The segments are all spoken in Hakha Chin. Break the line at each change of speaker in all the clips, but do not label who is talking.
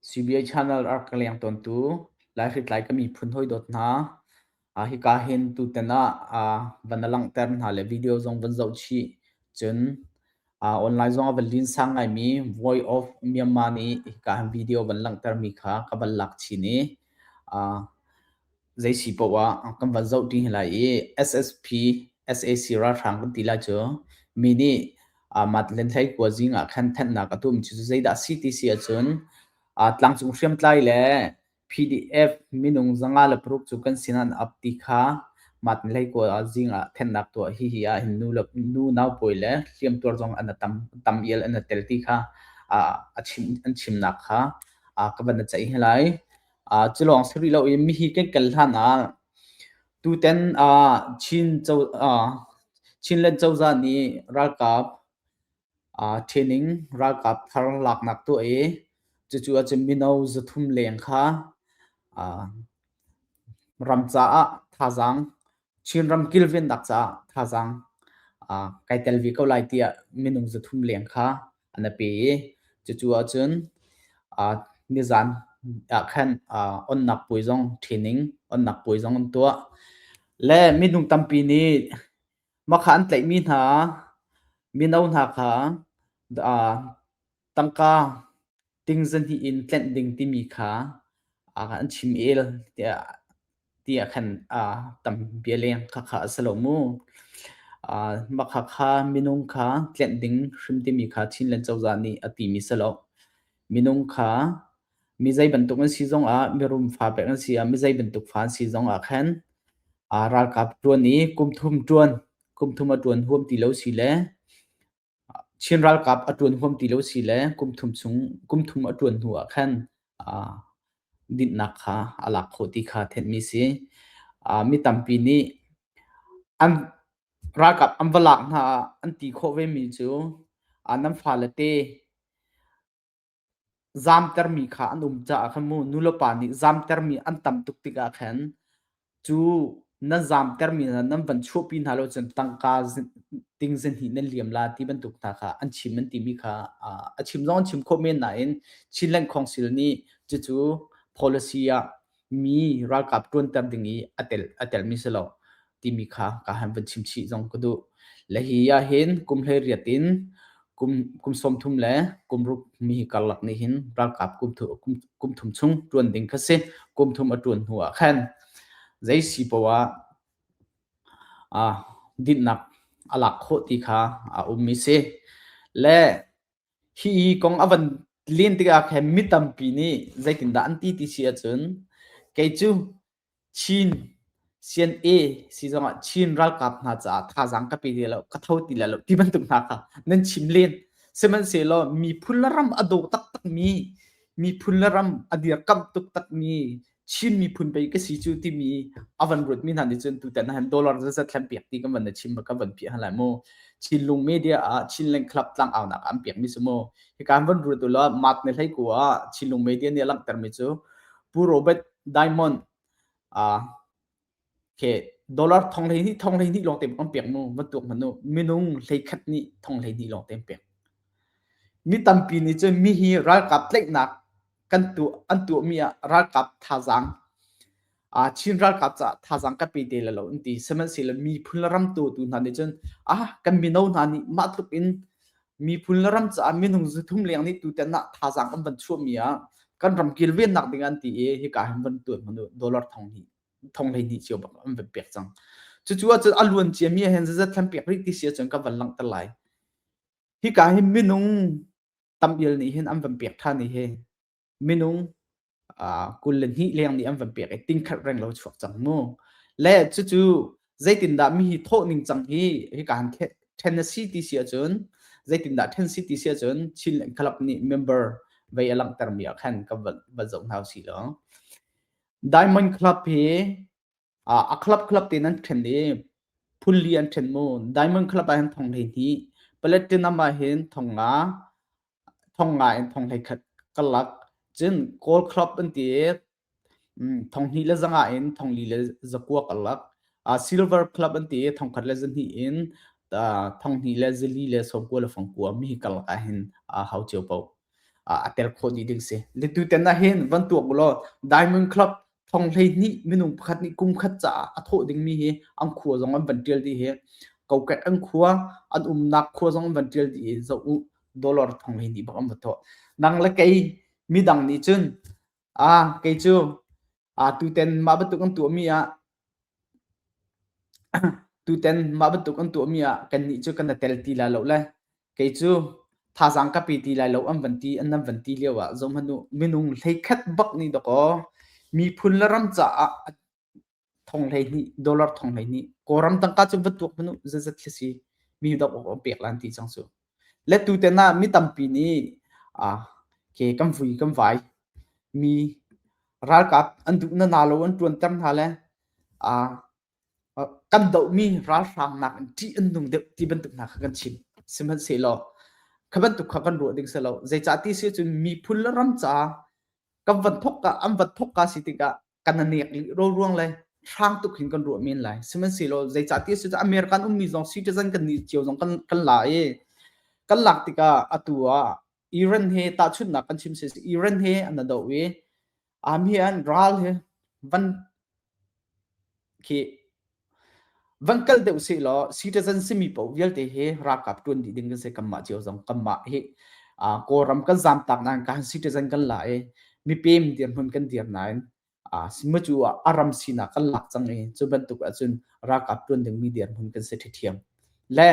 CBI channel a rak ka leng tawntu Lai hritlai ka miphun hawi dawt hna, hika hin tutan ah van na langhter hna le video zong van zoh chih. Cun online zong a van lin sang ngaimi Voice of Myanmar nih hika hin video van langhtermi kha ka van lak chin i Zeisi poah kan van zoh ṭi hna lai i SSP, SAC ralhrang kan ti lai cu mi nih Magdalene hlei khuazing ah khan thanhnak a tum cu zeidah a si ti si ahcun tlangcung hriamtlai le PDF minung zanga le paruk cu kan sinah an ap ti kha Magdalene hlei khuazing ah thennak tuah hihi ah hin nu naupawi le hliamtuar zong an tam ial an tel ti kha a chim an chimnak kha ka van i ceih hna lai. Uh, cilawng si rih lo i mihi kan kal hlan ah tutan uh, Chin co uh, Chinland cozah nih ralkap uh, training ralkap thar laknak tu i cucu ahcun mino zathum leng kha uh, ram caah thazaang Chinram kilvennak caah thazaang uh, kai tel ve ko lai tiah minung zathum leng kha an pe i cucu ahcun uh, nizan ah khan uh, onnak puai zong ṭhining onnak puai zong an tuah le minung tampi nih makha an tlaihmi hna mino hna kha uh, Tangka ting zahnih in tlenh ding timi kha an chim el tiah tiah khan tam bia leng khakha a si lo mu. Mah khakha minung kha tlenh ding hrim timi kha Chinland cozah nih a timi si lo. Minung kha mi zei bantuk an si zongah mirum fa pek an si ah mi zei bantuk fa an si zongah khan ralkap ṭuan i kumthum ṭuan kumthum a ṭuan huam ti lo si le Chin ralkap a ṭuan huam ti lo si le kum thum chung kum thum a ṭuan hnu ah khan aa dinhnak kha a lak khawh ti kha thenhmi si. Aa mi tampi nih an ralkap an va lak hna an ti khawh vemi cu aa nan fale te Zamtermi kha an um caah khan mu nulepa nih zamtermi an tam tuk tikah khan cu nan zamtermi hna nan van chuahpi hna lo cun tangka ting zinhnih nan liam la ti bantuk hna kha an chim an timi kha a chim zong an chim khawh men nain Chin Land Council nih cucu policy ah mi ralkap ṭuanter ding i a tel a telmi si lo timi kha ka han van chim chih zong ka duh. Le hi ah hin kum hlei riat in kum kum sawmthum le kum ruk mi karlak nih hin ralkap kum thu kum, kum thum chung ṭuan ding kha si kum thum a ṭuan hnu ah khan zei si poah ah dinnak a lak khawh ti kha a ummi si. Le Hi i kong a van len tikah khan mi tampi nih zeitindah an ti ti si ahcun kei cu Chin CNA si zongah Chin ralkap hna caah thazaang ka pe ti lo ka tho ti lo ti bantuk hna kha nan chim len sihmanhsehlaw miphun le ram a daw taktakmi miphun le ram a dirkamh tuk takmi Chin miphun pei ka si cu timi a van ruatmi hna nih cun tutan han dollar zazat thlan piak ti kan van chim ka van phi hala mu Chinlung media ah Chinland club tlang aunak an piak mi su mu hi kan van ruat la mat ne hlei ku a Chinlung media nih langter mi cu Pu Robert Diamond a Okay, dollar thong hlei hnih thong hlei hnih lawng te kan pek mu bantuk manu minung hlei khat nih thong hlei hnih lawng te pek. Mi tampi nih cun mi hi ralkap tlaihnak kan tu an tuah mi ah ralkap thazaang uh, Chin ralkap caah thazaang ka pe te la lo an ti sihmanhsehlaw miphun le ram tu tu hna nih cun ah kan mino hna nih mah tluk in miphun le ram caah minung zu thum leng nih tu tan ah thazaang an van chuah mi ah kan ram kilvennak ding an ti i hika hin van tuan manu dollar thong hnih thong hlei hnih cio bak an va pek cang cucu ahcun a luan cia mi hen zazat thlan pek rih ti si ahcun ka van langhter lai hi ka hi minung tam il nih hin an van pek than ni hi minung kul le hnih leng nih an van pek i ting khat reng lo chuak cang mu le cucu zeitindah mi hi thawh ning cang hi hi ka han Tennessee ti si ahcun zeitindah Tennessee ti si ahcun Chin club nih member vei a langhter mi ah khan ka va zoh hau si lo Diamond Club hi uh, a club club te nan ṭhen i phunli an ṭhen mu Diamond Club ah hin thong hlei hnih Platinum ah hin thong nga thong nga in thong hlei khat kalak cun Gold Club an ti thong hnih le zanga in thong li le zakuak alak uh, Silver Club an ti thong khat le zahnih in uh, thong hnih le zali le sopua le fangkua mi kalak ah hin uh, hau cio po a ter kho ni ding si letu ten na hin van tuak bulaw diamond club thong hlei ni minung pakhat ni kum khat ca a thawh ding mi hi an khua zong an van tial di hi koket an khua an umnak khua zong van tial di zo dollar thong hlei ni bak an va to nang le kei midang nih cun Ah, kei cu ah tutan mah bantuk an tuahmi ah tutan mah bantuk an tuahmi ah kannih cu kan i tel ti lai lo le kei cu thazang ka pe ti lai lo an van ti an nan van ti lio ah zom hanu minung hlei khat bak ni dakaw miphun le ram caah thong hleihnih dollar thong hleihnih kawlram tangka cu va tuak hmanu zazat khi si mi dok awk pek lan ti cang cu le tu te na mi tampi nih a ke kan vui kan vai mi ralkap an duh na na lo an tuan ter hna le a kan do mi ralhrang nak in ṭih an nung deuh ti bantuk hna kha kan chim sihmanhsehlaw kha bantuk kha kan ruah ding se lo zeicah ti si cun miphun le ram ca kan van thok ka an van thok ka si tikah kan anek ro ruang le hrang tuk hin kan ruah men lai sihmanhsehlaw zeicahtiah cucaah American ummi zong citizen kan nih cio zong kan kan la i kan lak tikah atu ah Iran he tahchunhnak kan chim si Iran he an do i am hi an ral he van khi van kal deuh se law citizen simi paoh vialte hi ralkap tuan dih ding kan se kanmah cio zong kanmah hi kawlram kan zamtak nain kan citizen kan la i mipem dir hmun kan dir nain sima cu a ram sinak kan lak cang i cu bantuk ahcun ralkap tuan dingmi dir hmun kan se ṭhithiam le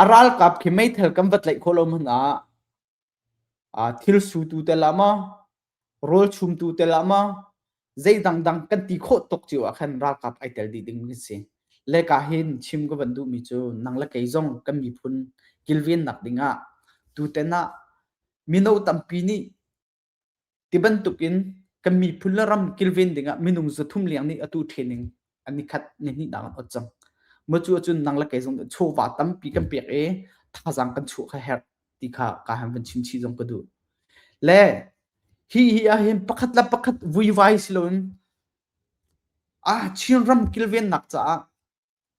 a ralkap khi meithal kan va tlaih khawh lo hmun ah thil sutu tel ah maw, rawlchumtu tel ah maw, zei dangdang kan ti khawh tuk cio ah khan ralkap ai tel dih ding kan si. Le ka hin chim ka van duhmi cu nang le kei zong kan miphun kilvennak ding ah tutan ah mino tampi nih Ti bantukin kan miphun le ram kilven dingah minung zathum liang nih atu training an ni khat ni hnih nak an ot cang. Maw cu cun nang le kei zong chawva tampi kan pek i thazang kan chuah kha herh ti kha ka han van chimchi zong ka duh. Le hi hi ah hin pakhat la pakhat vuivai siloin ah Chin ram kilven nak caah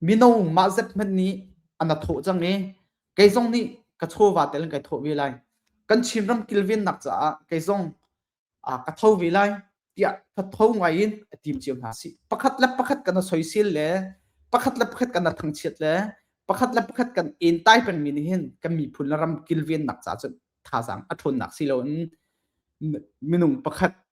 Mino mah zet hmanh nih an a thawh cang i kei zong nih ka chawva tel in kai thawh ve lai. Kan Chinram kilvennak caah kei zong aa ka tho ve lai tiah thatho ngai in a tim cio hna si. Pakhat le pakhat kan a soisel le pakhat le pakhat kan a thangchiat le pakhat le pakhat kan en tai pengmi nih hin kan miphun le ram kilvennak caah cun thazaang a ṭhawnnak si loin minung pakhat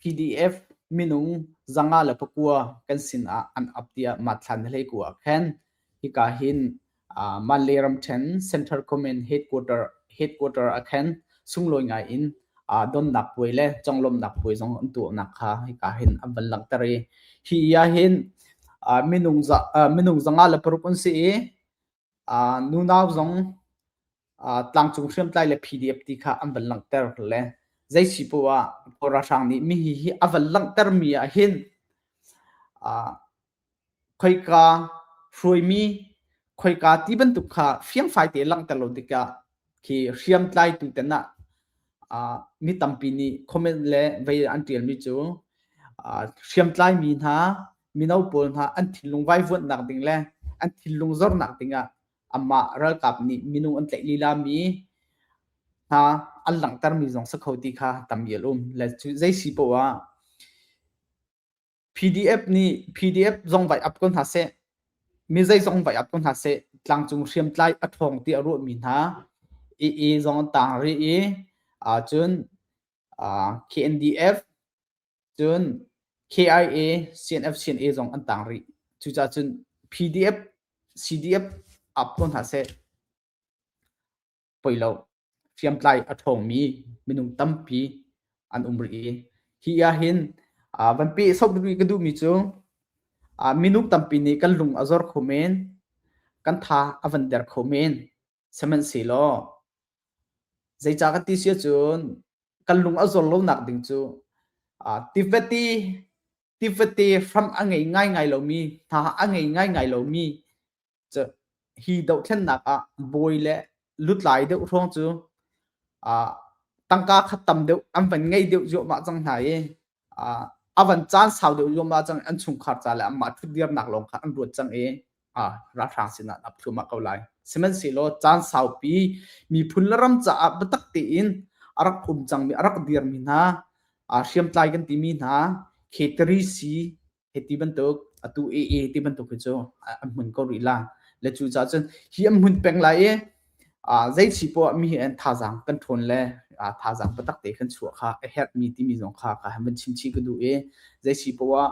PDF minung zanga le pakua kan sin ah an ap tiah matthlan hlei ku ah khan hika hin manle ramthen central comment headquarter headquarter ah khan sunglawi ngai in donnak puai le conglomnak puai zong an tuahnak kha hika hin an van langter i hi ya hin minung minung zanga le paruk an si i nunau zong tlangcung hriamtlai le PDF ti kha an van langhter le zei si poah Kawl ralhrang nih mihi hi a van langhtermi ah hin khoika hruaimi khoika ti bantuk kha fiangfai te langhter lo tikah khi hriamtlai tu ten ah mi tampi nih comment le vei an tialmi cu hriamtlai mi hna mino pawl hna an thinlung vaivuanhnak ding le an thinlung zornak dingah amah ralkap nih minung an tlaih lila mi hna an langhtermi zong sa kho ti kha tam ial um le cu zei si poah PDF nih PDF zong vai ap ko hna seh, mi zeizong vai ap ko hna seh, tlangcung hriamtlai a ṭhawng ti a ruahmi hna i i zong an tang rih i ah cun ah KNDF cun KIA CNF CNA zong an tang rih cucaah cun PDF CDF ap ko hna seh poi lo hriamtlai a ṭhawngmi minung tampi an um rih i hi ahhin van peh sok ka duhmi cu minung tampi nih kan lung a zor kho men kan tha a van der kho men sihmanhsehlaw zeicah ka ti sia cun kan lung a zor lonak ding cu tivati tivate hram a ngei ngaingai lomi hna a ngei ngaingai lomi hi dohthlennak ah bawi le lutlai deuh hrawng cu tangka khat tam deuh an van ngei deuh zuahmah cang hna i a van caan sau deuh zuahmah cang an chungkhar ca le anmah ṭhut diamnak lawng kha an ruat cang i ralhrang sinah ap thluamah ko lai sihmanhsehlaw caan saupi miphun le ram caah biatak tein a rak um cangmi a rak dirmi hna hriamtlai kan timi hna caterisi Hiti bantuk atu ee ti bantuk hi cu an hmun ko rih la le cu ca cun hi an hmun peng lai i zei chi poah mi he an thazaang kan ṭhawn le thazaang patak te kan chuah kha a herh mi timi zong kha ka han van chimchi ka duh i zei si poah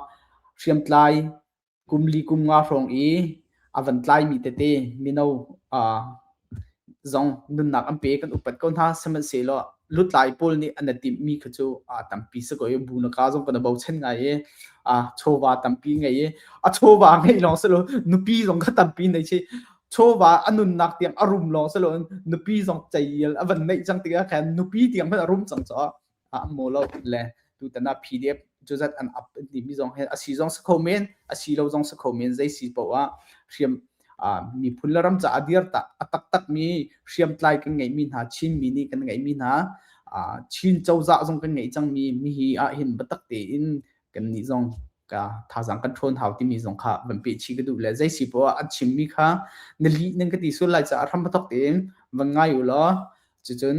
hriamtlai kum li kum nga hrawng i a van tlaimi tete mino uh, zong nunnak an pe kan upat ko hna sihmanhsehlaw lutlai pawl nih an timhmi kha cu tampi si ko bu na ka zong kana bochan ngai e a chawva tampi ngai e a chawva ngai long selo nupi zong kha tampi nei chi chawva anunnak tiang arum long selo nupi zong chayel avan nei chang tiga khan nupi tiang man arum chang cho ah an maw lo le tutan ah PDF cu zat an up an timi zong hi a si zong si kho men a si lo zong si kho men zei si poah ah hriam miphun le ram caah dir tak a taktak mi hriamtlai kan ngeih mi hna Chin mi nih kan ngeih mi hna Chin cozah zong kan ngeih cang mi mi hi ah hin batak tein kan nih zong ka thazang kan ṭhawn hau timi zong kha van pe chi ka duh le zei si poah an chim mi kha na li nan ka ti sul lai caah ram batak tein van ngai u law cucun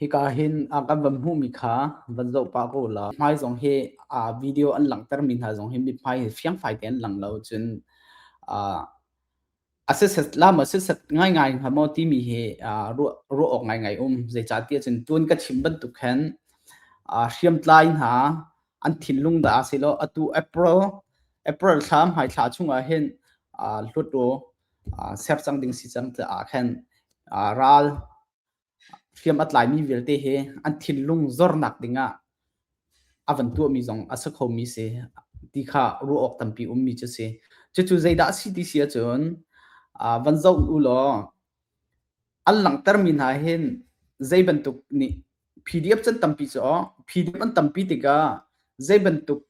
Hika hin kan van hmuhmi kha van zoh pah ko la. Hmai zong hi video an langhtermi hna zong hi mithmai hi fiangfai tein lang lo. Cun assessment lam assessment ngaingai hnga maw timi hi ruah awk ngaingai um. Zeicahtiah cun tun ka chim bantuk khan hriamtlai hna an thinlung dah a si lo. Atu April, April thla hmai thla chung ah hin hlut u. ser cang ding si cang tiah aa khen. Ral hriam a tlaimi vialte hi an thinlung zornak dingah a van tuahmi zong a si khomi si ti kha ruah awk tampi ummi cu si. Cucu zeidah a si ti si ahcun van zoh u law an langhtermi hna hin zei bantuk nih PDF can tampi cu aw PDF an tampi tikah zei bantuk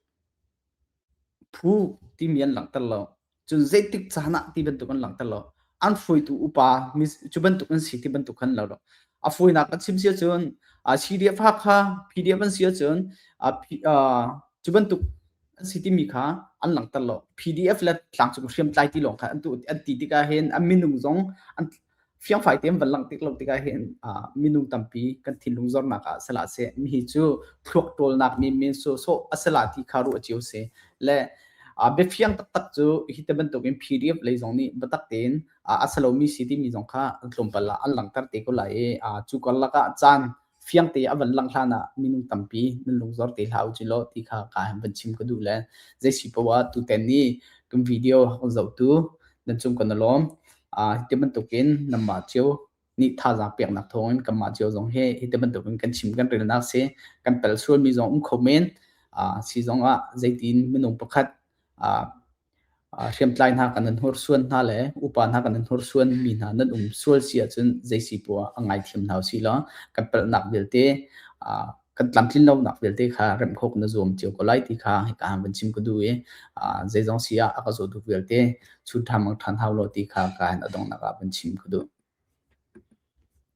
phu timi an langhter lo. cun zeitik caan ah ti bantuk an langhter lo an hruitu upa cu bantuk an si ti bantuk khan lo a fawinak kan chim sia cun a CDF ha kha PDF an sia cun a cu bantuk an si timi kha an langhter lo PDF le tlangcung hriamtlai ti lawng kha an tu an ti tikah hin an minung zong an fiangfai tein van langh tik lo tik ahhin minung tampi kan thinlung zornak ah sala se mi cu thluak tawlnak mi men so so asala ti kha ru achiu se le biafiang taktak cu hi te bantukin pdf lei zong nih batak tein asalomi si timi zong kha tlawmpal ah an langhter te ko lai i cu karlak ah caan fiang te a van lang hlan ah minung tampi nan lungzor te hlah u law ti kha ka van chim ka duh le zei si powa tu ten ni kan video kan zoh tu nan cung kan lom a ti bantuk in namba chiu ni tha za pek nak thong in kan ma chiu zong he hi te bantuk in kan chim kan rel nak se kan pel sual mi zong um khomen a si zong ah zeitin minung pakhat a hriamtlai hna kan nan hnorsuan hna le upa hna kan nan hnorsuan mi hna nan um sual si ahcun zeisi pua ngaithiam hna si law kan palhnak vialte kan tlamtlin lonak vialte kha remhkhawk na zuam cio ko lai ti kha hika han van chim ka duh i zeizong si ah a ka zawtu vialte chu ṭha mang ṭhan hau lo ti kha ka han adongnak ah van chim ka duh.